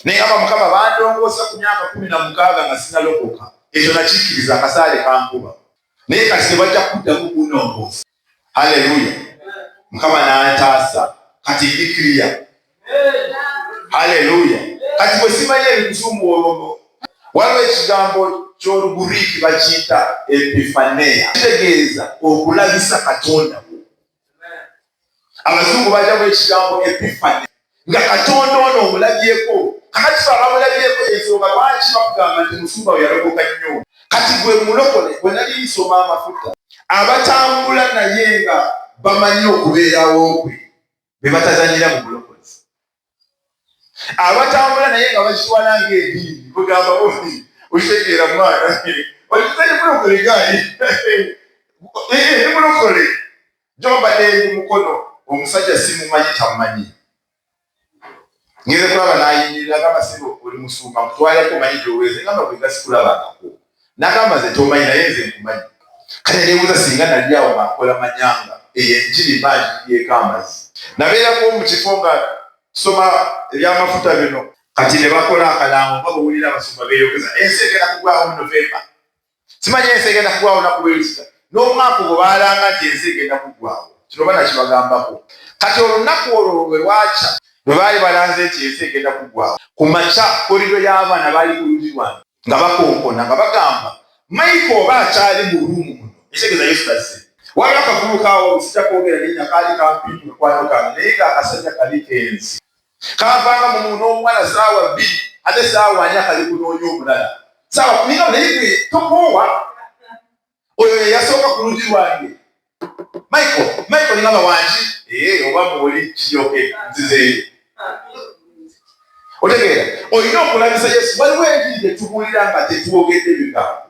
naye aba mukama bandongoosa ku myaka kumi na mukaaga nga sinalokoka ekyo nakikkiriza akasaale kankuba naye kati tebajja kuddamu kunongoosa haleluya mukama nantaasa kati ndi kiriya haleluya kati bwe simanyi ebikusumu olwogo waliwo ekigambo ky'oluguriiki bakiyita epifaneya kitegeeza okulabisa katonda abazungu bajamu ekigambo epifani nga katonda ono omulabyeko kakati fe abamulabyeko ensonga lwaki bakugamba nti musumba we yalokoka nnyo kati gwe mulokole gwe nali nsoma amafuta abatambula naye nga bamanyi okubeerawo kwe be batazanyira mu bulokozi abatambula naye nga bakiwala ng'ediini kugamba bufi okitegeera mwana okitali mulokole gayi ndi mulokole gyobadde ndi mukono omusajja simumanyi tamanyi ngeze kulaba nayimirira nga basiba oli musumba mutwaleko manyi gyoweze ngamba bwegasikulabangako nagamba nze tomanyi naye nze nkumanyi kale nebuuza singa nali awo nga nkola manyanga eyo enjiri mba njibyeko amazzi nabeerako mu kifo nga soma ebyamafuta bino kati ne bakola akalango nga bwewulira abasumba beeyogeza ensi egenda kugwawo mu novemba simanyi ensi egenda kugwawo naku lwelusita n'omwaka ogwo baalanga nti ensi egenda kugwawo kino bana kibagambako kati olunaku olwo lwe lwakya bwe baali balanze nti ensi egenda kugwawo ku makya kolido y'abaana baali ku lugi lwange nga bakonkona nga bagamba maiko oba akyali mu ruumu muno ekitegeeza yesu tazze waliwo akavubuka awo sija kwogera linnya kaali kampi mu mukwano kange naye nga akasajja kabi kenzi kavanga mu muno omuwala saawa bbiri ate saawa anya kali kunoonya omulala saawa kuninga naye tokoowa oyo yeyasooka ku lugi lwange michael michael ningamba wangi ee oba muoli kiyoke nzizeeyo otegeera olina okulabisa yesu waliwo enjiri gyetubuulira nga tetwogedde bigambo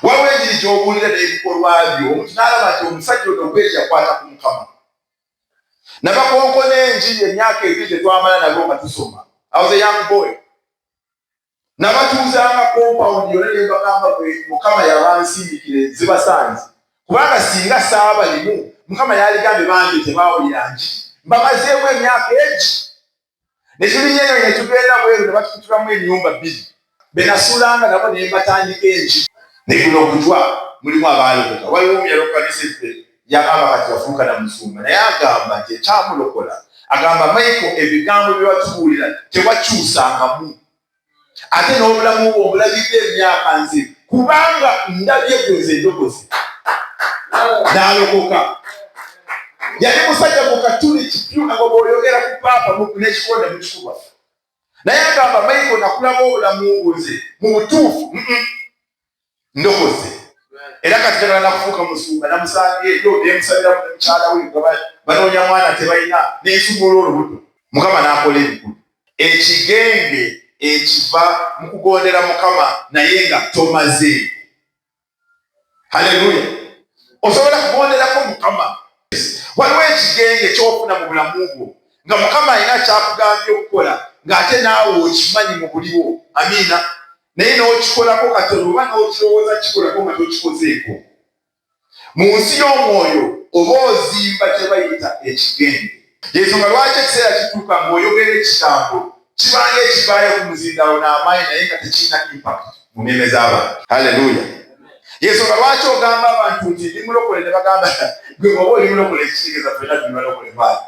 waliwo enjiri gyobuulira n'ebikolwa byo omuntu n'alaba nti omusajja ono okweri yakwata ku mukama nabakonko n'enjiri emyaka ebiri gyetwamala nabo nga tusoma awoze young boy nabatuuzanga kompawundi yona nebagamba bwe mukama yabansindikire zibasanze kubanga singa saaba limu mukama yaligambe bangi tebawulira nji mbamazeemu emyaka egi nekibinya eyo netugenda bweru nebatukutulamu enyumba bbiri benasuulanga nabo nembatandika enji naye guno ogutwa mulimu abaalokoka waliwo omu yalokoka neseffe yagamba kati yafuuka na musumba naye agamba nti ekyamulokola agamba maiko ebigambo byewatubuulira tewakyusangamu ate n'obulamu bwe obulabidde emyaka nze kubanga ndabye gweze endokozi n'alokoka yali musajja mu katuli kipyu nga bwoyogera ku paapa nekikonda mukikuba naye agamba maiko nakulaba obulamu bwoze mu butuufu ndokoze era kati jagala nakufuuka musumba namusanga eyo nemusabira mukyala we banoonya mwana tebalina nensumula olubuto mukama nakola ebikulu ekigenge ekiva mu kugondera mukama naye nga tomaze haleluya osobola kugonderako mukama waliwo ekigenge kyofuna mu bulamu bwo nga mukama alina kyakugambye okukola ng'ate naawe okimanyi mu buliwo amiina naye n'okikolako katono oba n'okirowooza kikolako nga tokikozeeko mu nsi y'omwoyo oba ozimba kye bayita ekigenge yensonga lwaki ekiseera kituuka ng'oyogera ekigambo kibanga ekivaayo ku muzindaalo n'amaanyi naye nga tekirina impact mu mmeeme z'abantu haleluya yensonga lwaki ogamba abantu nti ndi mulokole ne bagamba gwe oba oli mulokole ekitegeeza fena ndi balokole baali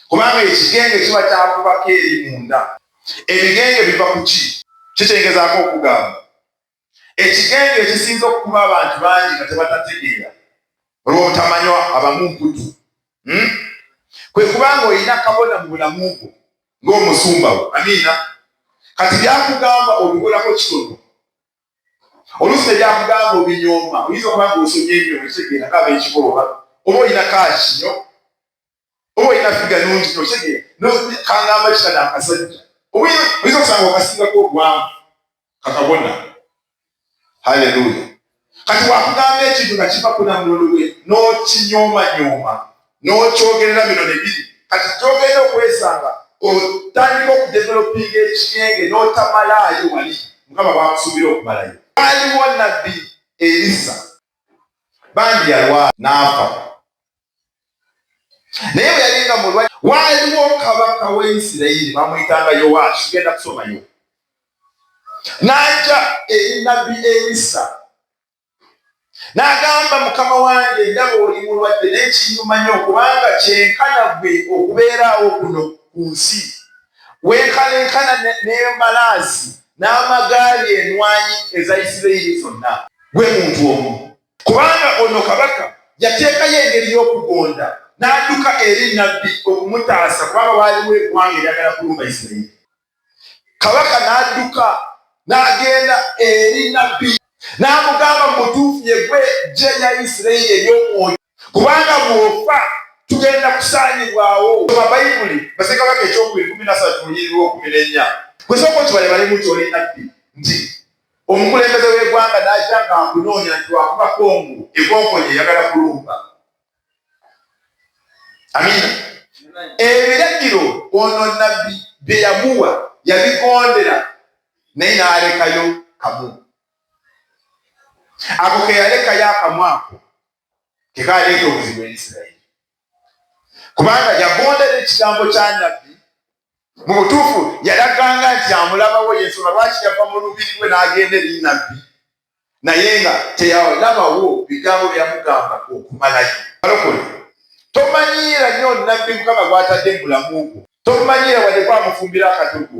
Kubanga ekigenge kiba kyakubako eri munda. Ebigenge biva ku ki? Kitegezaako okugamba, ekigenge ekisinze okukuba abantu bangi nga tebatategeera olw'obutamanywa abamu mputu. Hmm? Kwe kuba nga olina kabona mu bulamu bwo ng'omusumba wo. Amiina. Kati byakugamba obikolako kitono. Oluusi tebyakugamba obinyooma. Oyinza okuba nga osomye ebyo ekitegeera nga ab'ekikooba oba olina kaaki nyo. oba olina figa nungi nokege kangamba kisa nakasajja oyinza okusanga okasingako obwamu kakabona haleluya kati wakugamba ekintu nga kiva kuna mulolwe nokinyomanyooma nokyogerera bino nebiri kati kyogenda okwesanga otandika okudevelopinga ekyenge notamalaayo wali mukama bakusuubira okumalayo waliwo nabbi erisa bandi yalwa naafa naye bwe yali nga mulwa waaliwo kabaka wa isirayiri bamuyitanga yowaasi genda kusomayo n'ajja eri nabbi erisa n'agamba mukama wange ndaba oli mulwadde naye kinyuma nyo kubanga kyenkana gwe okubeeraawo kuno ku nsi wenkalenkana n'embalaazi n'amagaali enwanyi eza isirayiri zonna gwe muntu omu Kubanga ono kabaka yateekayo engeri y'okugonda n'adduka eri nnabbi okumutaasa kubanga waaliwo eggwanga eryagala kulumba Isirayiri. Kabaka n'adduka n'agenda eri nnabbi n'amugamba mu butuufu ye gwe ggye lya Isirayiri ery'omwoyo kubanga bw'ofa tugenda kusaanyibwawo. Soma Bayibuli Bassekabaka ekyokubiri kumi na ssatu lunyiriri lw'okumi n'ennya. Gwe sooka okibalebale mu nti oli nnabbi nti omukulembeze w'egwanga n'aja nga akunoonya nti wakuba kongo ekonkonye eyagala kulumba amina ebiragiro ono nabbi bye yamuwa yabigondera naye n'alekayo kamu ako keyalekayo akamu ako kekaleeta obuzibu eisirairi kubanga yagondera ekigambo kya nabbi mu butuufu yalaganga nti amulabawo yensonga lwaki yava mu lubiri lwe n'agenda eri nabbi naye nga teyalabawo bigambo byeyamugamba okumalayo balokole tomanyiira nnyo nabbi mukama gwatadde mu bulamu bwo tomanyiira wadde kwamufumbira akadugu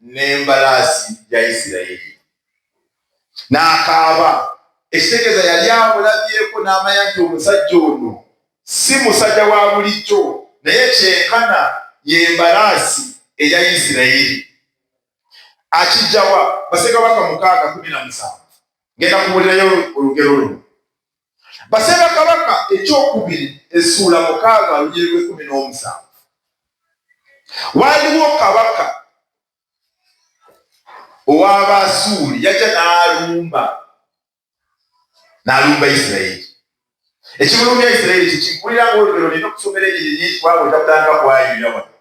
n'embalaasi ya Isirayiri. N'akaaba, ekitegeeza yali amulabyeko n'amanya nti omusajja ono si musajja wa bulijjo, naye kyenkana ye mbalaasi eya Isirayiri. Akijjawa bassekabaka mukaaga kumi na musanvu. Ngenda kubuulirayo olugero luno. Baseera Kabaka ekyokubiri essuula mukaaga olugeri lw'ekkumi n'omusanvu waaliwo kabaka ow'Abaasuuli yajja n'alumba n'alumba Isirayiri. Ekimulumya Isirayiri kye kikulira ng'olugero nina okusomera ennyiriri nyingi kwabo otakutanga kwayuya wano.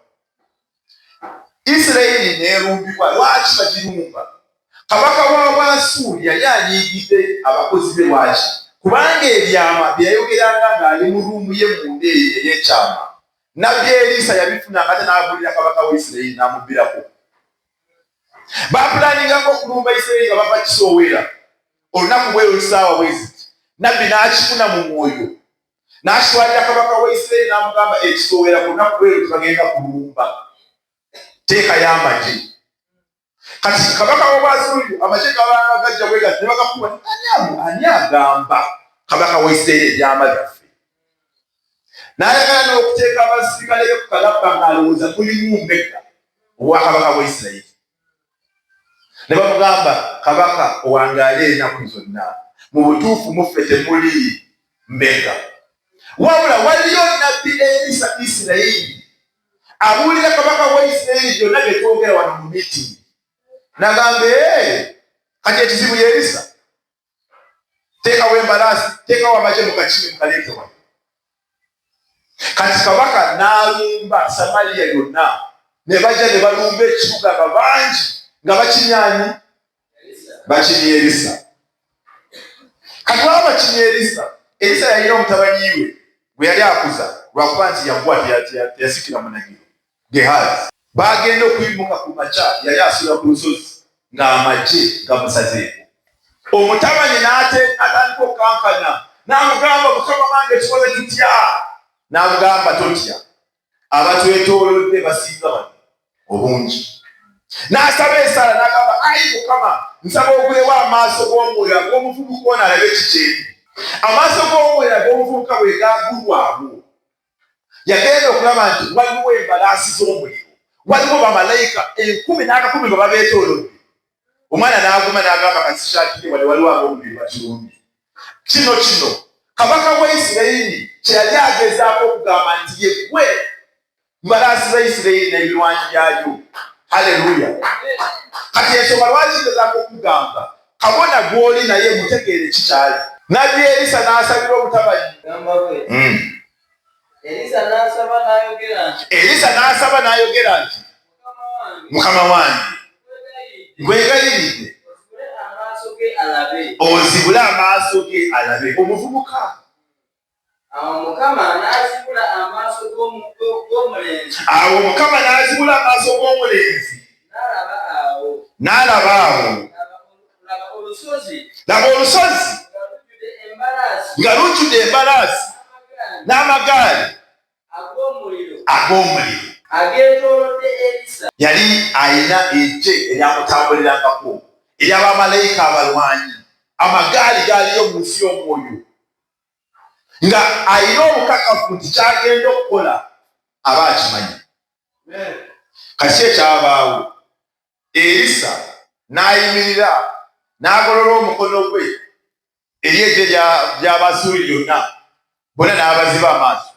isirayiri neerumbibwa lwaki bagirumba kabaka wa bwasuuli yali anyiigidde abakozi be lwaki kubanga ebyama byeyayogeranga ng'ali mu ruumu ye munda eyo ey'ekyama nabbi eriisa yabifuna ngate n'abuulira kabaka wa isirayiri n'amubbirako bapulaaninganga okulumba isirayiri nga bava kisooweera olunaku bweyo lusaawa bweziti nabbi n'akifuna mu mwoyo n'aswalira kabaka wa Isirayiri n'amugamba ekisowera ku lunaku lwero tebagenda kulumba teekayo amagye kati kabaka w'obwazungu amagye gabanga gajja bwe gati ne bagakuba ani agamba kabaka wa Isirayiri ebyama byaffe n'ayagala n'okuteeka abasirikale be ku kalabba ng'alowooza mulimu mbega obwakabaka bwa Isirayiri ne bamugamba kabaka owangaale enaku zonna mu butuufu muffe temuli mbega wabula waliyo nabbi erisa isirayiri abuulira kabaka wa isirayiri gyonna byetwogera wano mu miti nagamba kati ekizibu yerisa teekawo embalaasi teekawo amagye mukakimi mukaleetewa kati kabaka n'alumba samaliya yonna ne bajja ne balumba ekibuga nga bangi nga bakinyanyi bakinya erisa kati waba bakinya erisa erisa yalina omutabanyiwe gwe yali akuza lwakuba nti yakuwa teyasikira munagiro Gehazi baagenda okuyimuka ku makya, yali asula ku lusozi ng'amagye gamusazeeko. Omutabani n'atandika okukankana n'amugamba, mukama wange tukole tutya? N'amugamba, totya, abatwetoolodde basinga bano obungi. N'asaba esaala n'agamba, ayi mukama, nsaba ogulewo amaaso g'omwoyo ag'omuvubuka ono alabe kiki endi. Amaaso g'omwoyo ag'omuvubuka bwe gaagulwawo, yagenda okulaba nti waliwo embalaasi z'omuliro waliwo bamalayika enkumi n'akakumi nga babeetoolodde omwana n'aguma n'agamba kasishaatire wali waliwo ab'omubiri bakirundi kino kino kabaka wa isirayiri kye yali agezaako okugamba nti yegwe mbalaasi za isirayiri n'ebirwanyi byayo haleluya kati ensonga lwaki gezaako okugamba kabona gw'oli naye mutegeere ki kyali nabbi erisa n'asabira obutabanyi hmm. erisa n'asaba n'ayogera nti mukama wange nkwegayiridde ozibule amaaso ge alabe omuvubuka Awo Mukama n'azibula amaaso g'omulenzi. Awo Mukama n'azibula amaaso g'omulenzi. N'alaba awo. N'alaba awo. Laba olusozi. Laba olusozi. Nga lujjudde embalaasi. N'amagaali. Ag'omuliro. Ag'omuliro. Ageetoolodde Elisa. Yali alina eggye eryamutambulirangako, ery'abamalayika abalwanyi. Amagaali gaaliyo mu nsi y'omwoyo. nga alina obukakafu nti kyagenda okukola aba akimanyi kati ekyabaawo erisa n'ayimirira n'agolola omukono gwe eri egye ly'abasuuli lyonna bona n'abaziba amaaso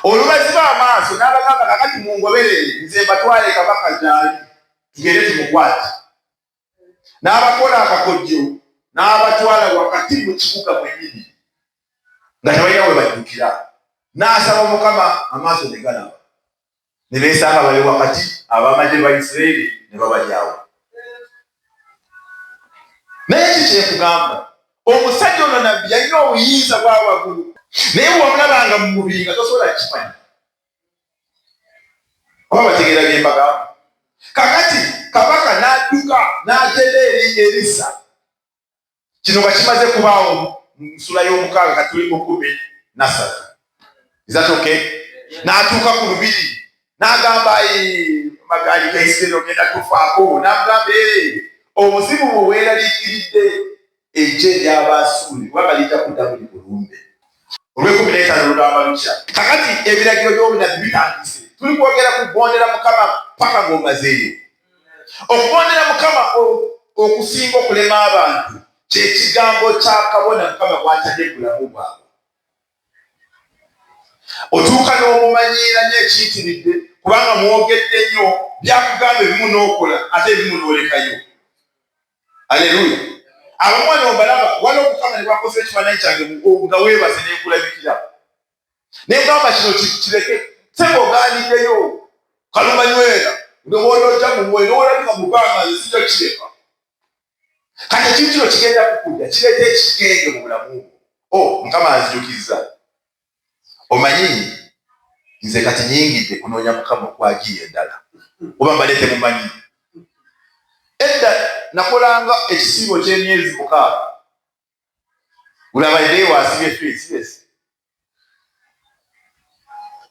olubaziba amaaso n'abagamba kakati mungoberere nze mbatwale kabaka gyali tugende tumukwate n'abakola akakodyo n'abatwala wakati mu kibuga mwenyini nga tebalina we baddukira n'asaba mukama amaaso ne galaba ne beesanga bali wakati abamagye ba isiraeri ne babalyawo naye ki kyekugamba omusajja ono nabbi yalina obuyinza bwa waggulu naye wamulabanga mu mubiri nga tosobola kimanya oba bategeera bye mbagamba kakati kabaka n'adduka n'agenda eri erisa kino nga kimaze kubaawo mu nsula y'omukaaga kati tuli mukumi nasatu izatoke n'atuuka ku lubiri n'agamba magaali gaisiteri ogenda tufaako n'agamba obuzibu bwe weeraliikiridde eggye ery'Abaasuuli kubanga lijja kudda buli bulumbe. Olw'ekkumi n'etaano lugamba lutya? Kakati ebiragiro by'obunabbi bitandise. Tuli kwogera ku kugondera Mukama paka ng'omazeeyo. Okugondera Mukama okusinga okulema abantu kye kigambo kya kabona Mukama gw'atadde mu bulamu bwabwe. Otuuka n'omumanyiira nyo ekiyitiridde kubanga mwogedde nyo byakugamba ebimu n'okola ate ebimu n'olekayo. aleluya abamwana obalaba wala omukama nebakoze ekifananyi kyange nga webaze nenkulabikira negamba kino kireke sebo oganiddeyo kalumanywera ndowoolooja mumwe nowolabika mubanga nzija kireka kati ekintu kino kigenda kukudda kireeta ekigenge mu bulamu o oh, mukama anzijukizza omanyi nze kati nyingidde kunoonya mukama okwagiye endala oba mbadde temumanyi edda nakolanga ekisiibo ky'emyezi mukaaga ulabaidde waasibye feesibesi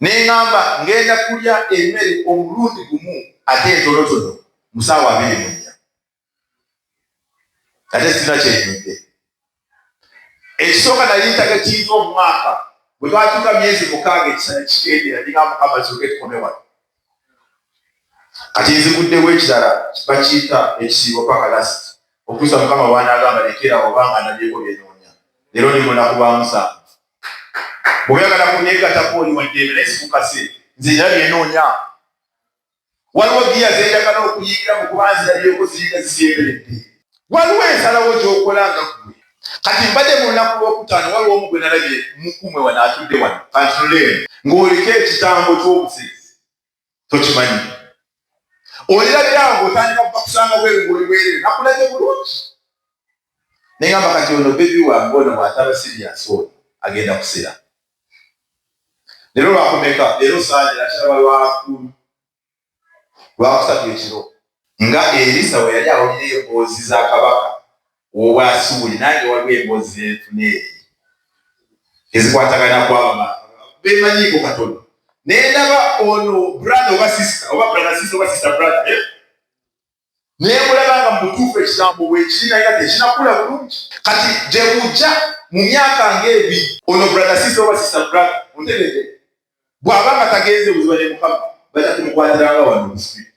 neŋamba ngenda kulya emmere omulundi gumu ate entolotono musaawa abiri munya ate sina kyenyidde ekisooka nali ntaga kiiza omwaka bwe twatuuka myezi mukaaga ekisana kigendera nina mukama ziuke tukomewa kati nziguddewo ekirala bakiyita ekisiibo paka last okusa mukama wanagamba lekera obanga nabyeko byenoonya leero ndi munaku lwa musanvu bweoyagala kunegatako oli waddembe naye sikukase nze era byenoonya waliwo giya zenjagala okuyigira mu kuba nzirabyeko ziyiga zisemberedde waliwo ensalawo gyokola nga gwe kati mbadde mu lunaku lwokutaano waliwo omu gwe nalabye mukumwe wano atudde wano kantunuleemu ng'oliko ekitambo ky'obusezi tokimanyi olirabira nga otandika kuba kusanga bweru ng'oli bwerere nakulabye bulungi naye ngamba kati ono bebi wange ono bwataba siriyasi oyo agenda kusera Leero lwakumeka? Leero saagye nakiraba lwakulu lwakusatu ekiro nga Erisa bwe yali awulira emboozi za kabaka w'Obwasuuli, nange waliwo emboozi ze nfuna eri ezikwatagana kwabama bemanyiiko katono nendaba ono brother oba sister oba brother sister oba sister brother eh? naye mulaba nga mubutuufu ekigambo bwekiri naye nga tekinakula bulungi kati gyebujja mu myaka ngaebiri ono brother sister oba sister brother ontegede bwaba nga tagenze buziba ne mukama bajja kumukwatiranga wano musibi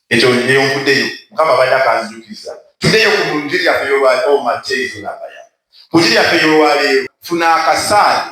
ekyo neyo nkudeyo mukama bajja kanzijukiza tudeyo ku njiri yaffe yolwaleo oh, mateizo nabaya ku njiri yaffe yolwaleero funa akasaale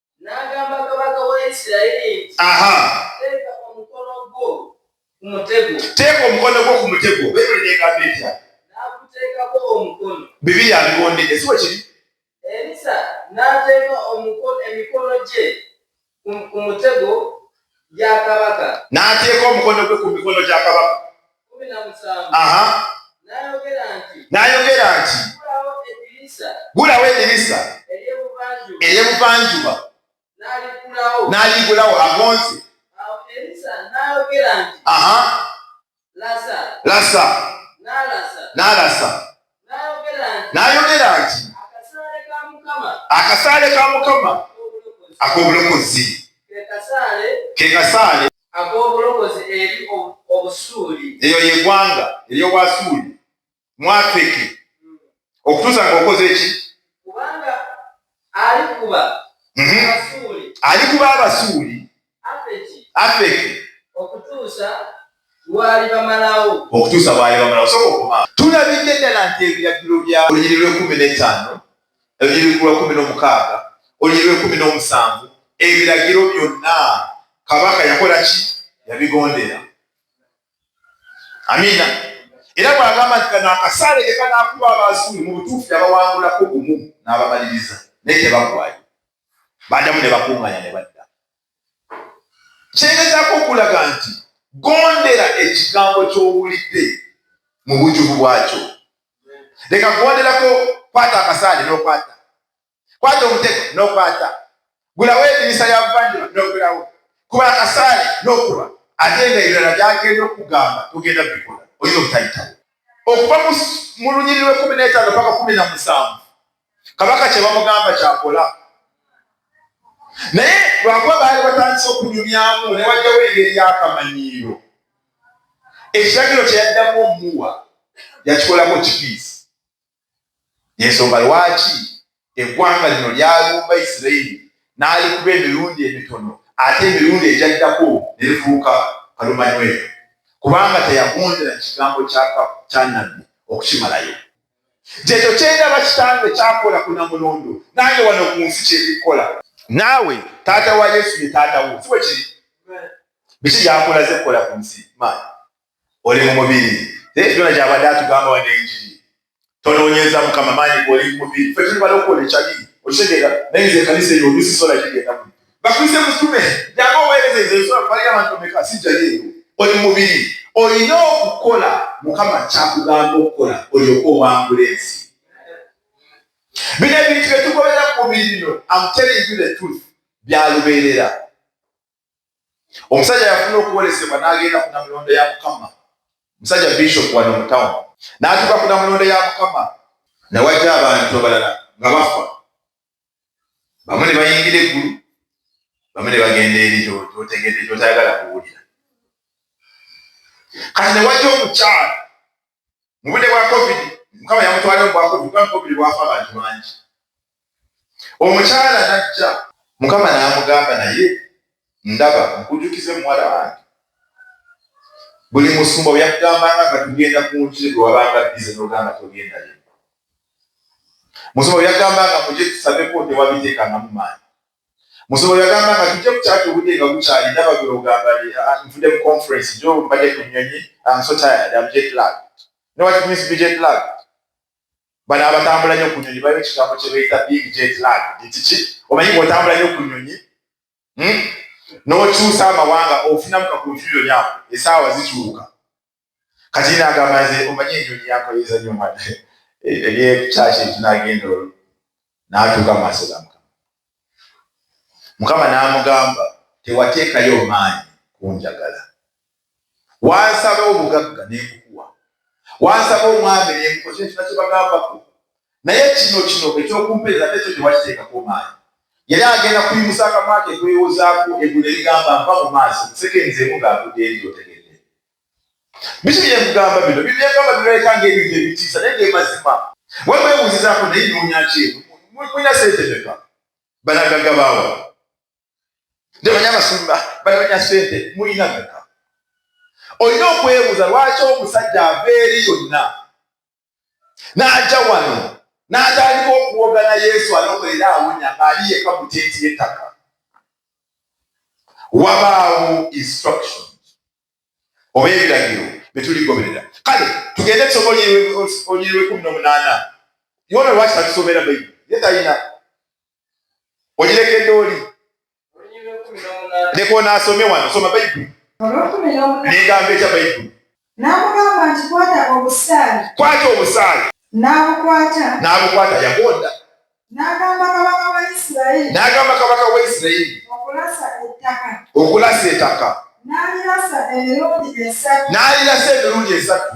teeka omukono gwo ku mutego bayibuli negamba etya bibiri abigondedde si wekiri elisa n'ateeka emikono gye ku mutego gya kabaka n'ateeka omukono gwe ku mikono gya kabaka n'ayogera nti gulawo edirisa ery'ebuvanjuba n'aligulawo agonze lasa n'alasa n'ayogera nti akasaale ka mukama ak'obulokozi ke kasaale ak'obulokozi eri obusuuli eyo yegwanga ery'obwasuuli mwafeke hmm. okutuusa nga okoze eki kubanga alikuba mhm. alikuba abasuuli afeki okutuusa bwali bamalawo okutuusa bwali bamalawo soka okuba tulabidde ddala nti ebiragiro bya olunyiri lw'ekumi n'etaano olunyiri lw'ekumi n'omukaaga olunyiri lw'ekumi n'omusanvu ebiragiro byonna kabaka yakola ki yabigondera amiina era bwagamba nti kano akasaale ke kanakuba abasuuli mu butuufu yabawangulako gumu n'abamaliriza naye tebagwayo badamu ne bakuŋŋanya ne badda kyegezaako okulaga nti gondera ekigambo ky'owulidde mu bujuvu bwakyo leka kugonderako kwata akasaale n'okwata kwata omutego n'okwata gulawo edirisa ya buvanjuba n'ogulawo kuba akasaale n'okuba ate nga ebirala byagenda okugamba tugenda bikola oyina obutayitawo okuva mu lunyiriri lwekumi n'etaano paka kumi na musanvu kabaka kye bamugamba kyakola naye lwakuba baali batandise okunyumyamu ne wajjawo engeri y'akamanyiiro ekiragiro kye yaddamu omuwa yakikolamu ekipiisi yensonga lwaki eggwanga lino lyalumba isirairi n'alikuba emirundi emitono ate emirundi egyaddako ne lifuuka kalumanywero kubanga teyagondera kigambo kya nabbi okukimalayo Kyekyo kyendaba kitange kyakola ku Namulondo nange wano ku nsi kyebikola. Naawe taata wa Yesu ye taata wo si bwe kiri? Biki byakulaze kukola ku nsi maanyi? Oli mu mubiri naye byona gyabadde atugamba wano enjiri tonoonyeza mukama maanyi goli mu mubiri ffe tuli balokoole kyali okitegeera naye nze ekanisa eyo olusi sola gigenda mu bakuyise mutume jangu oweereza ezo ensula kubalira abantu omeka sijjayo eyo oli mubiri olina okukola mukama kyakugamba okukola olyoka owangula ensi bino ebintu byetukolera ku mubiri bino amtellingu the truth byalubeerera omusajja yafuna okuwolesebwa n'agenda ku namulondo ya mukama musajja bishop wano mu town n'atuuka ku namulondo ya mukama nawaja abantu abalala nga bafa bamu ne bayingira eggulu bamu ne bagenda eri kyotegedde kyotayagala kuwulira kati ne wajja omukyala mu budde bwa covid mukama yamutwala mu bwa covid kuba covid bwafa abantu bangi omukyala najja mukama n'amugamba naye ndaba nkujukize muwala wange buli musumba weyakugambanga nga tugenda ku njiri gwe wabanga bize nogamba togendayo musumba weyagambanga muje tusabeko tewabitekangamu maanyi musumba weyagambanga tujje kukyaki obudde nga bukyali ndaba gwe ogamba ah, ah, nvude mu conference jo mbadde ku nyonyi am so tired am jet lag you know what it means to be jet lag bano abatambula nyo ku nyonyi balina ekigambo kye bayita big jet lag nti ki omanyi ngaotambula nyo ku nyonyi hmm? n'okyusa amawanga ofunamu ka confusion yako esaawa zikyuka kati nagamba nze omanyi enjoni yankoyeza nyo mwana ebyekyaki eh, eh, ekinagenda olwo natuuka maaso ga mukama mukama namugamba tewateekayo omaanyi kunjagala wansaba obugagga nebukuwa wansaba omwami nebukosa ekina kyebagambako naye kino kino ekyokumpeereza nekyo tewakiteekako maanyi yali agenda kuyimusa akamwa ke kwewozaako eggulu nerigamba mpa mu maaso nseke nzemu ng'agudde eri otegedde biki byemugamba bino bibyegamba birabika ng'ebintu ebitiisa naye gemazima wemwebuuzizaako naye noonya ki eno mulina sente meka banagagga baawa nde banya basumba banoonya sente mulina meka olina okwebuuza lwaki omusajja ava eri yonna n'ajja wano n'atandika okuwogana yesu alokolela awonya ali yeka mu tenti y'ettaka wabaawo instruction oba ebiragiro bye tuligoberera kale tugende esomo oliri lwekumi n'omunaana yona lwaki tatusomera bayibuli ye talina ogirekedde oli leka ono asome wano soma bayibuli negamba ekya bayibuli n'amugamba nti kwata obusaale kwata obusaale n'abukwata n'abukwata yagonda n'agamba kabaka wa isirayiri n'agamba kabaka wa isirayiri okulasa ettaka okulasa ettaka n'alirasa emirundi esatu n'alirasa emirundi esatu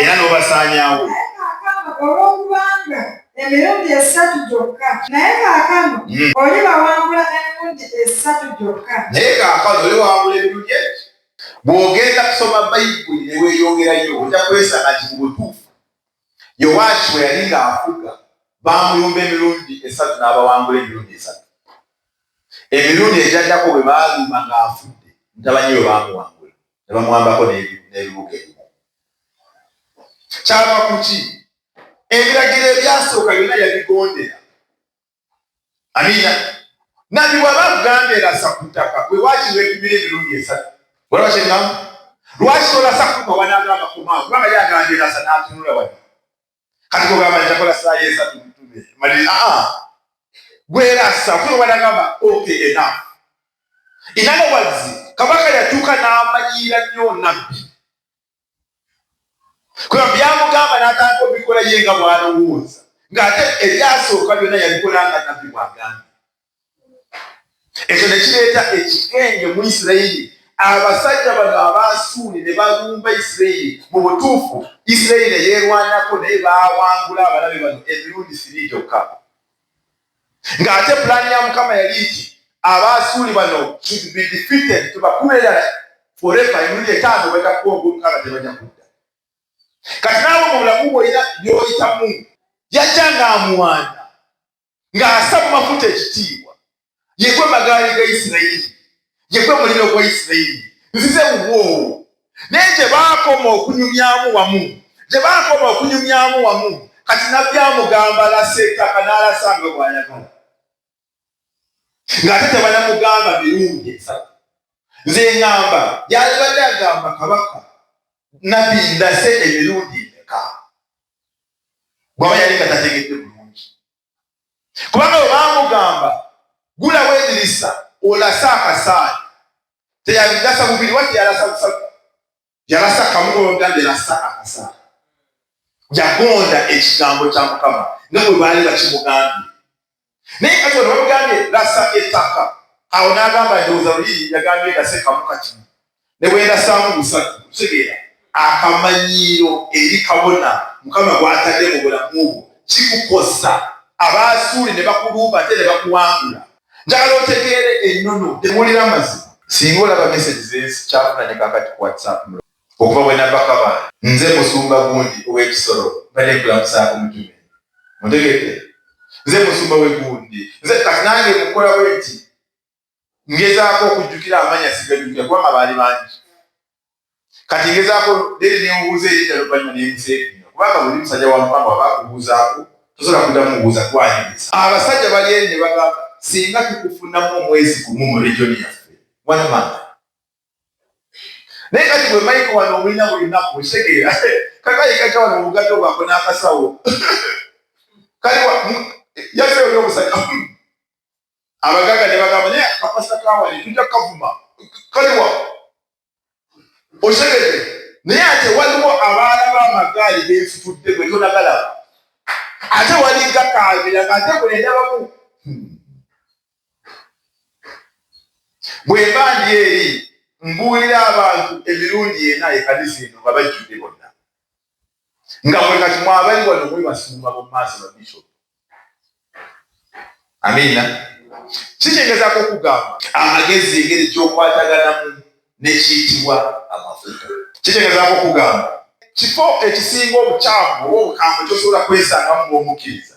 era n'obasaanyawo olw'okubanga emirundi esatu gyokka naye kaakano hmm. oli bawangula emirundi esatu gyokka naye kaakano oli wawangula emirundi eki bw'ogenda kusoma bayibuli ne weeyongerayo ojja kwesanga nti mu butuufu yowaashi bwe yali ng'afuga baamulumba emirundi esatu n'abawangula emirundi esatu emirundi egyaddako bwe baalumba ng'afudde ntabanye bwe baamuwanga ne bamuwambako n'ebibuga ebimu. Kyava ku ki? Ebiragiro ebyasooka byonna yabigondera. Amiina. Nabbi bw'aba akugambye lasa ku ttaka, gwe waaki weepimira emirundi esatu? Olaba kye ŋŋamba? Lwaki tolasa kutuuka wanaagamba kumawo? Kubanga ye agambye lasa n'atunula wano. kati kugamba nti akola saayo esatu mutume maliri aa ah, ah. gwerasa kwewanagamba oke ena inanawazi kabaka yatuuka n'amanyiira nnyo nabbi kuba byamugamba n'atandika obikola ye nga bwalowooza ng'ate ebyasooka byonna yabikola nga nabbi bwagambye ekyo ne kireeta ekikenge mu isirayiri abasajja bano abaasuuli ne balumba isirayiri mu butuufu isirayiri ne yeerwanako naye baawangula abalabe bano emirundi siri gyokka ng'ate pulaani ya mukama yali nti abaasuuli bano should be defeated tubakube erala forever emirundi etaano batakuba ogwomukaaga tebaja kudda kati naawe mu bulamu bwoyina byoyitamu yajja ng'amuwanda ng'asa mu mafuta ekitiibwa yegwe magaali ga isirayiri yegwe muliro gwa isirayiri nzize wubwowo naye gye baakoma okunyumyamu wamu gye baakoma okunyumyamu wamu kati nabbi amugamba alasa ettaka n'alasa nga bw'ayagala ng'ate tebanamugamba mirundi esatu nze ngamba yalibadde agamba kabaka nabbi ndase emirundi emeka bwaba yali nga tategedde bulungi kubanga webamugamba gula wedirisa olasa akasaali teyabigasa bubiri wati yalasa busaga yalasa kamuogambe lasa akasaali yagonda ekigambo kya mukama nga bwe baali bakimugambye naye kati ono bamugambye lasa ettaka awo n'agamba ndowooza luli yagambye ndase kamu kati ne bwendasaamu busatu kutegeera akamanyiiro eri kabona mukama gwatadde mu bulamu bwo kikukosa abaasuuli ne bakuluuba ate ne bakuwangula njagala otegeere ennono temuwulira amazima singa olaba mesegi zensi kyafunanye kakati ku whatsapp Okuva bwe nava Kabale, nze Musumba Gundi ow'e Kisoro mbadde nkulamusaako mutume. Mutegedde? Nze Musumba w'e Gundi. Nze kati nange mukola bwe nti ngezaako okujjukira amanya sigajjukira kubanga baali bangi. Kati ngezaako leero ne mubuuza erinnya luvannyuma ne museekinya kubanga buli musajja wa Mukama waba akubuuzaako tosobola kuddamu mubuuza gwanyumiza. Abasajja bali eri ne bagamba singa tukufunamu omwezi gumu mu region yaffe one month. naye kati bwe maiko wano omulina buli naku ekitegeera kakayikaja wano obugadde obwako n'akasawo kale yazeewo n'omusajja abagaaga ne bagamba naye akapasa kawani tujja kukavuma kaliwa okitegede naye ate waliwo abaana b'amagaali beefutudde gwe tonagala ate wali gakaabira ng'ate buli ndabamu bwemba ndi eri mbuulira abantu emirundi ena ekaniza eno nga bajjudde bonna nga mwe kati mwabali wano mwe basumba mu maaso ba bishop amiina kitegeezako okugamba amagezi engeri gyokwataganamu nekiyitibwa amafuta kitegeezako okugamba kifo ekisinga obukyamu oba obukambwe kyosobola kwesangamu ngaomukkiriza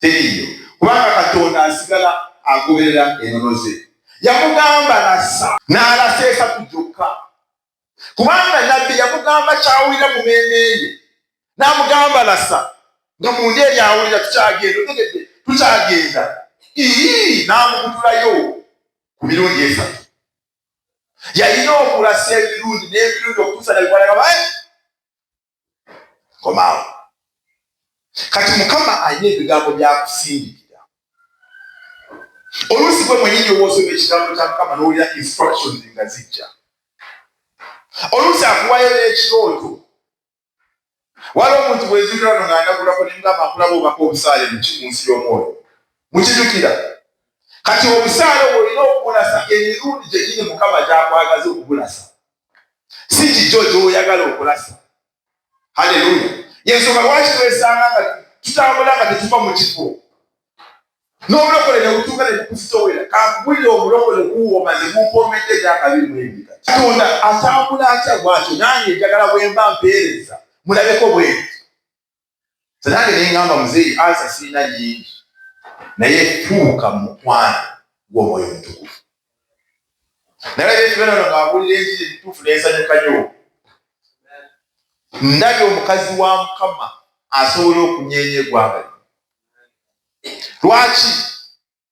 teriiyo kubanga katonda asigala agoberera enono ze yamugamba nassa n'alasa esatu gyokka kubanga nabbi yamugamba kyawulira mu meeme ye n'amugamba lassa nga munda eri awulira tukyagenda otegedde tukyagenda ii n'amukutulayo ku mirundi esatu yalina okulasa emirundi n'emirundi okutuusa nabikwaaa komaawo kati mukama alina ebigambo byakusindikira oluusi gwe mwenyini owoosoma ekigambo kya mukama nowulira instructions nga zijja oluusi akuwayo n'ekirooto wali omuntu bwezikira no ngandagulako nemugamba nkulaba obako obusaale muki mu nsi y'omwoyo mukijukira kati obusaale obwo olina okubulasa emirundi gyegini mukama gyakwagaza okubulasa si kijo kyoyagala okulasa haleluya yensonga lwaki twesanga nga tutambula nga tetuva mu kifo n'obulokole ne butuuka ne bukufutowera kakuwulira obulokole kuwooma ne bumpomedde gyakabi mwendi katonda atambula atya bwatyo nange njagala bwemba mpeereza mulabeko bwendi Nange ne ngamba muzeeyi ansa sirina nyingi, naye fuuka mukwano gw'omwoyo omutukuvu. Nalabye ekibonerezo ng'abuulira enjiri entuufu n'ensanyuka nyo. Ndabye omukazi wa Mukama asobola okunyeenya eggwanga lino. Lwaki?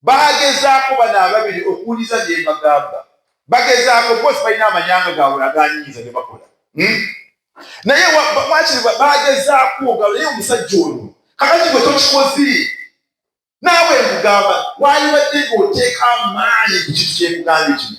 bagezaako bano ababiri okuwuliza bye mbagamba bagezaako bose balina amanyanga gaabwe aganyinza bye bakola hmm? naye wakiri bagezaako nga naye omusajja ono kakati gwe tokikozi naawe nkugamba wali wadde ngaoteeka amaanyi ku kintu kyekugambye kino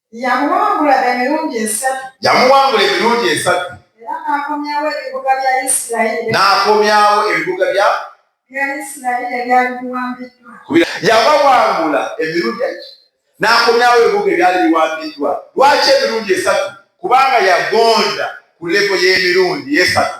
Yamuwangula emirundi esatu. Yamuwangula emirundi esatu. Era n'akomyawo ebibuga bya Isirayiri. N'akomyawo ebibuga bya. Bya Isirayiri ebyali biwambiddwa. Yabawangula emirundi eki n'akomyawo ebibuga ebyali biwambiddwa. Lwaki emirundi esatu? Kubanga yagonda ku lebo y'emirundi esatu.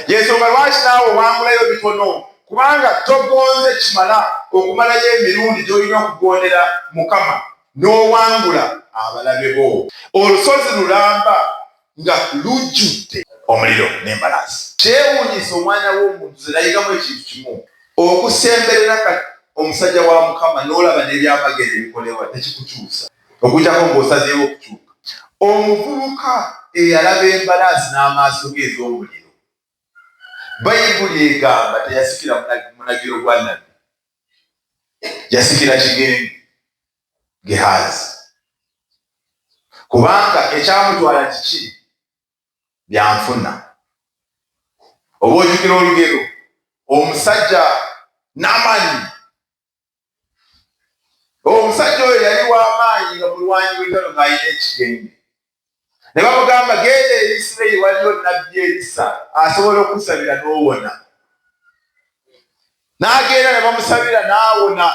yensonga lwaki naawe owangulayo bitono kubanga togonze kimala okumalayo emirundi gyolina okugondera mukama n'owangula abalabe bo olusozi lulamba nga lujjudde omuliro n'embalaasi kyewunyisa omwana w'omuntu zerayigamu ekintu kimu okusemberera kati omusajja wa mukama n'olaba n'ebyamagero ebikolewa tekikukyusa okujjako ng'osazeewo okukyuka. Omuvubuka eyalaba embalaasi n'amaaso ge ez'omuliro, Bayibuli egamba teyasikira munagiro gwa Nabbi, yasikira kigenge, Gehaazi. Kubanga ekyamutwala kiki? Byanfuna. Oba ojukira olugero, omusajja Namani omusajja oyo yali w'amaanyi nga mulwanyi w'entalo ng'alina ekigenge ne bamugamba genda eri isirayiri waliyo nabbi erisa asobola okusabira n'owona n'agenda ne bamusabira n'awona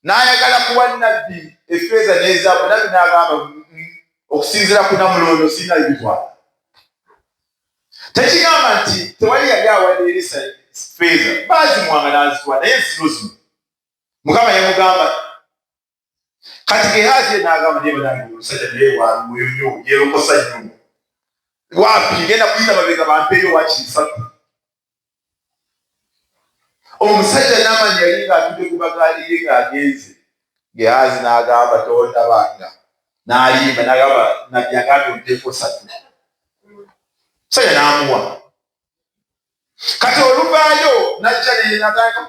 n'ayagala kuwa nabbi efeeza n'ezaabu nabbi n'agamba okusinzira ku namulondo sirina bibitwala tekigamba nti tewali yali awadde erisa feeza baazimuwanga n'azituwa naye zino zino mukama yamugamba kati gehazi ye n'agamba naye banange omusajja naye waluyo nyo yeerokosa nyo wapi genda kuyita babega bampeeyo wakisatu omusajja namanya yali ng'atudde ku bagaali ye ng'agenze gehazi n'agamba tondabanga n'ayimba n'agamba nabbi agambye omuteeko satu musajja n'amuwa kati oluvaayo najja nenatandika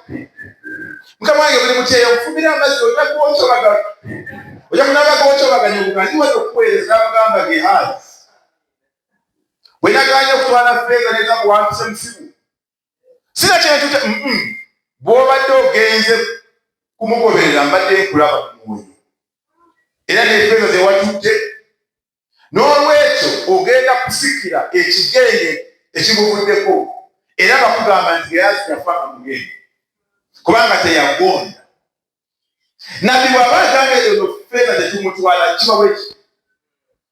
mukama wange buli mutyeyo nfumira amazzi oja kuwokyobaga oja kunaba kuwokyobaganya obugandiweza okuweereza n'amugamba gehazi bwe yagaanye okutwala feeza ne gakuwanduse musibu sina kintu kye bw'obadde ogenze kumugoberera mbadde nkulaba ku mwoyo era n'efeeza ze watudde n'olwekyo ogenda kusikira ekigenge ekiguvuddeko era bakugamba nti geyazi yafa nga mugende kubanga teyagonda nabbi bw'aba agamba ezo feeza tetumutwala kiba bwekyo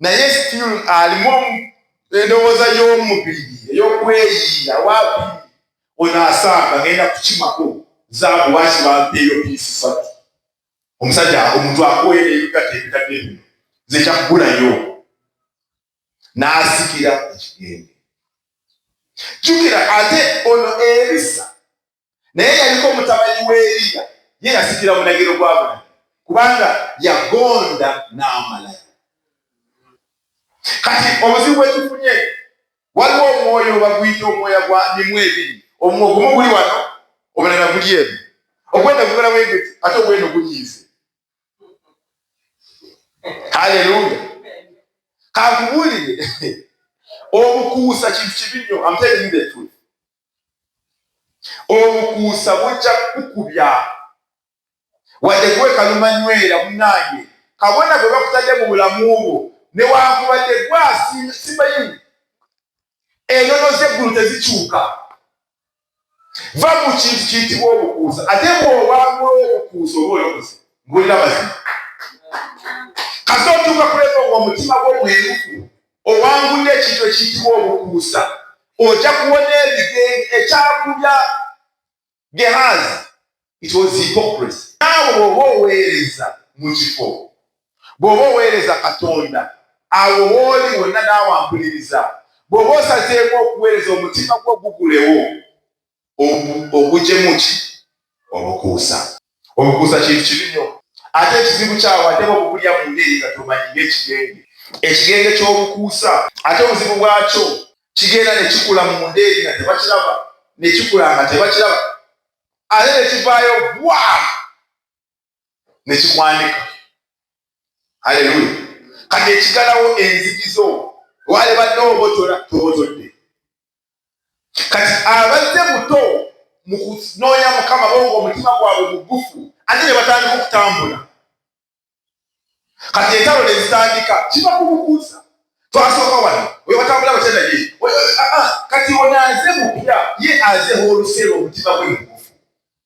naye still alimu endowooza y'omubiri ey'okweyiira wapi ono asanga ngenda kukimako zaabu lwaki bampeeyo piisi satu omusajja omuntu akuweera ebigato ebitadde bino nze kyaggulayo n'asikira ekigenge jukira ate ono ebisa naye yaliko omutabani wa Eriya ye yasikira munagiro gwa bulamu kubanga yagonda n'amalayo. Kati obuzibu bwetufunye waliwo omwoyo baguyita omwoya gwa mimu ebiri, ogumu guli wano, omulala guli eno. Ogwenda gugala bwegwe ate ogweno gunyiize. Haleluya! Kankubulire obukuusa kintu kibi nnyo. Amtelindetu obukuusa bujja kukukubya wadde gwe kalumanywera munange kabona gwe bakutadde mu bulamu bwo newankubadde gwasimanyi enono zeggulu tezikyuka va mu kintu kiyitibwa obukuusa ate bwobangula obukuusa oba olokoze mbulira mazima kasootuuka kuleka omutima gwo mwerufu owangudde ekintu ekiyitibwa obukuusa ojja kuwona ebigenge ekyakubya gehazi it was hypocrisy naawe bwoba oweereza mu kifo bwoba oweereza katonda awo wooli wonna naawe ampuliriza bwoba osazeemu okuweereza omutima gwo gugulewo ogujemu ki obukuusa obukuusa kintu kibi nnyo ate ekizibu kyawo ate bobugulya mu ngeri nga tomanyi ng'ekigenge ekigenge ky'obukuusa ate obuzibu bwakyo kigenda ne kikula mu ndeeri nga tebakiraba ne kikula nga tebakiraba ate ne kivaayo bwa nekikwanika haleluya kati ekigalawo enzikizo walibadde obotola tobotodde kati abazze buto mu kunoonya mukama bonga omutima gwabwe mugufu ate ne batandika okutambula kati entalo ne zitandika kiba kumukuusa twasooka wano oyo batambula batya naye ah, ah, kati onaaze mupya ye azeho olusero omutima gwe mugufu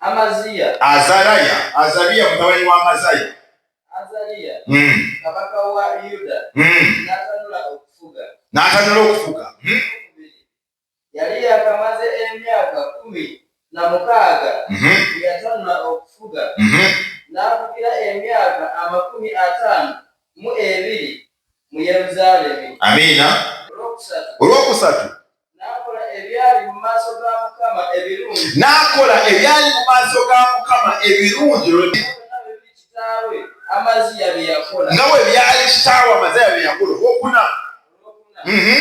Amaziya. Azaraya. Azariya mutabani wa Amaziya. Azariya. Mm. Kabaka wa Yuda. Mm. N'atanula okufuga. N'atanula okufuga. Mm. Yali yakamaze emyaka kumi na mukaaga. Mm -hmm. Yatanula okufuga. Mm -hmm. N'afugira emyaka amakumi ataano mu ebiri mu Yeruzaalemi. Amiina. Olwokusatu. Olwokusatu. n'akola ebyali mu maaso ga mukama ebirungi nga bwe byali kitaawe amaziya bye yakola okuna mhm.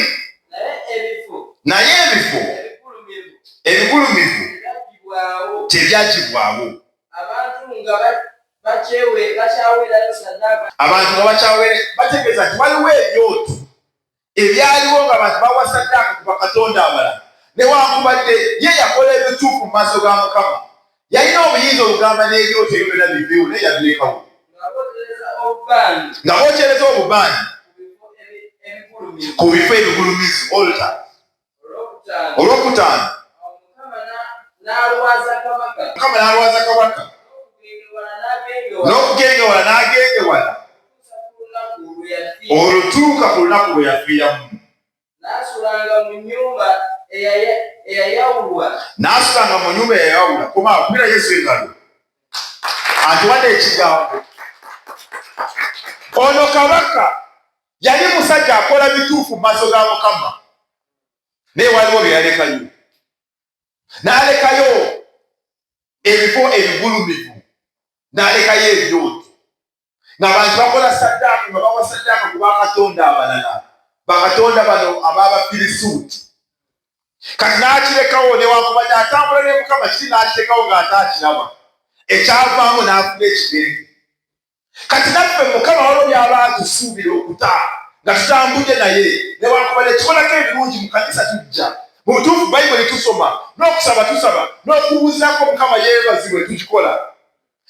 naye ebifo ebigulumivu tebyagibwawo abantu nga bakyawera bategeeza nti waliwo ebyoto ebyaliwo nga bantu bawasaddaaka ku bakatonda abala newankubadde ye yakola ebituufu mu maaso ga mukama yalina obuyinza olugamba n'ebyoto ebyo byona biveewo naye yabirekawo nga bokyereza obubaani ku bifo ebigulumizi olta olwokutaano mukama n'alwaza kabaka n'okugenda ewala n'agenda ewala olutuuka ku lunaku lwe yafiiramu n'asulanga mu nyumba eyayawulwa kuba akubira yesu engalo atuwadde ekigambo ono kabaka yali musajja akola bituufu mu maaso ga mukama naye waliwo bye yalekayo n'alekayo ebifo ebigulumivu n'alekayo ebyoto ng'abantu bakola saddaaka nga bawa saddaaka ku bakatonda abalala bakatonda bano ababafirisuuti kati n'akirekawo newankubadde atambula ne mukama kiri n'akirekawo ng'ate akiraba ekyavaamu n'afuna ekigenge kati naffe mukama walo byaba atusuubira okuta nga tutambudde naye newankubadde tukolako ebirungi mu kanisa tujja mu butuufu bayibuli tusoma n'okusaba tusaba n'okuwuzako mukama yeebazibwe tukikola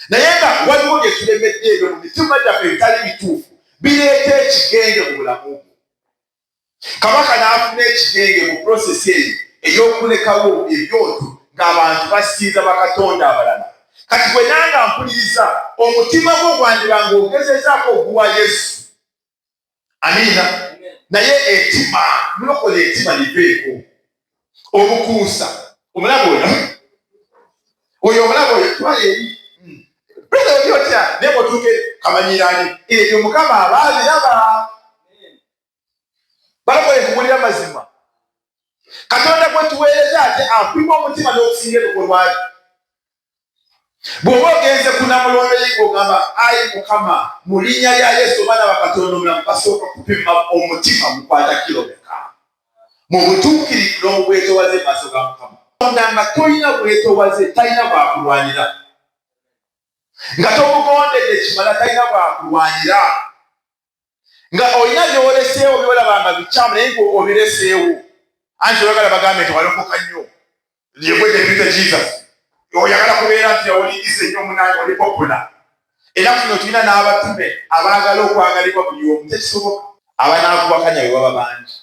naye nga waliwo bye tulemedde ebyo mu mitima gyaffe ebitali bituufu bireeta ekigenge mu bulamu bwo Kabaka n'afuna ekigenge mu pulosesi eyo ey'okulekawo ebyoto ng'abantu basinza bakatonda abalala. Kati bwe nanga mpuliriza, omutima gwo gwandiba ng'ogezezaako oguwa Yesu. Amiina. Naye etima, mulokole etima liveeko. omukuusa omulaba oyo oyo omulaba oyo twala eri bweza oli otya naye bwotuuke kamanyirani ebyo mukama aba abiraba balokole kubulira mazima katonda gwetuweereza ate apima omutima n'okusinga ebikolwaki bw'oba ogenze ku namulondo ye ng'ogamba ayi mukama mu linnya lya yesu omwana bakatonda omulamu basooka kupima omutima mukwata kilomeka mu butuukirivu n'obwetowaze maaso ga mukama onda nga tolina bwetowaze talina bwakulwanira nga tomugondedde kimala talina bwakulwanira nga olina byoleseewo byolaba nga bikyamu naye nga obireseewo anti oyagala bagambe nti walokoka nnyo yegwedepite jesus oyagala kubeera nti olingize nnyo munange oli popola era kuno tulina n'abatume abaagala okwagalibwa buli omu tekisoboka abanaakubakanya be baba bangi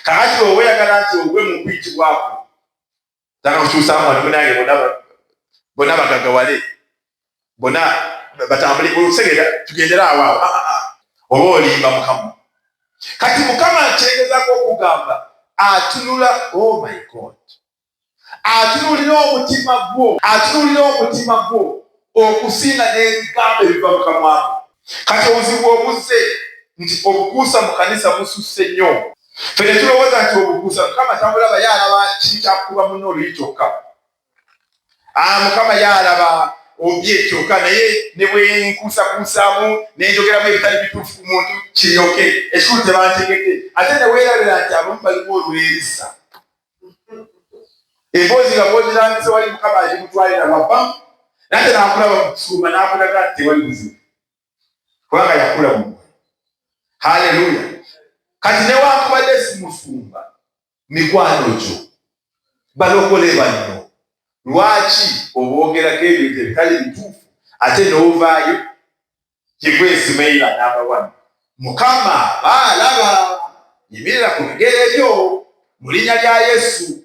kakati oba oyagala nti ogwe mu kuyitibwako tana okyusa mwana munange bona bona bagagawale bona batambule otegera tugendere awo awo ah, ah, ah. oba olimba mukama kati mukama akyegezako okugamba atunula oh my god atunulira omutima gwo atunulira omutima gwo okusinga n'ebigambo ebiva mu kamwa ko. Kati obuzibu obuzze nti obukuusa mu kanisa bususse nnyo. Ffe ne tulowooza nti obukuusa Mukama tamulaba, ye alaba kiri kya kukuba munno oluyi kyokka. Aa, Mukama ye alaba obye kyokka, naye ne bwe nkuusakuusaamu ne njogeramu ebitali bituufu ku muntu kiryoke, ekikulu tebantegedde. Ate ne weerabira nti abamu balimu olwerisa. emboozi nga bwozirambise wali mukama alimutwalira wava nate nakulaba mukusuma nakulaga nti tewali buzibu kubanga yakula mu haleluya kati newakubadde simusumba mikwano gyo balokole banno lwaki obwogerako ebintu ebitali bituufu ate nowuvaayo kigwa esumeira namba wani mukama baalaba yimirira ku bigere byo mu linnya lya yesu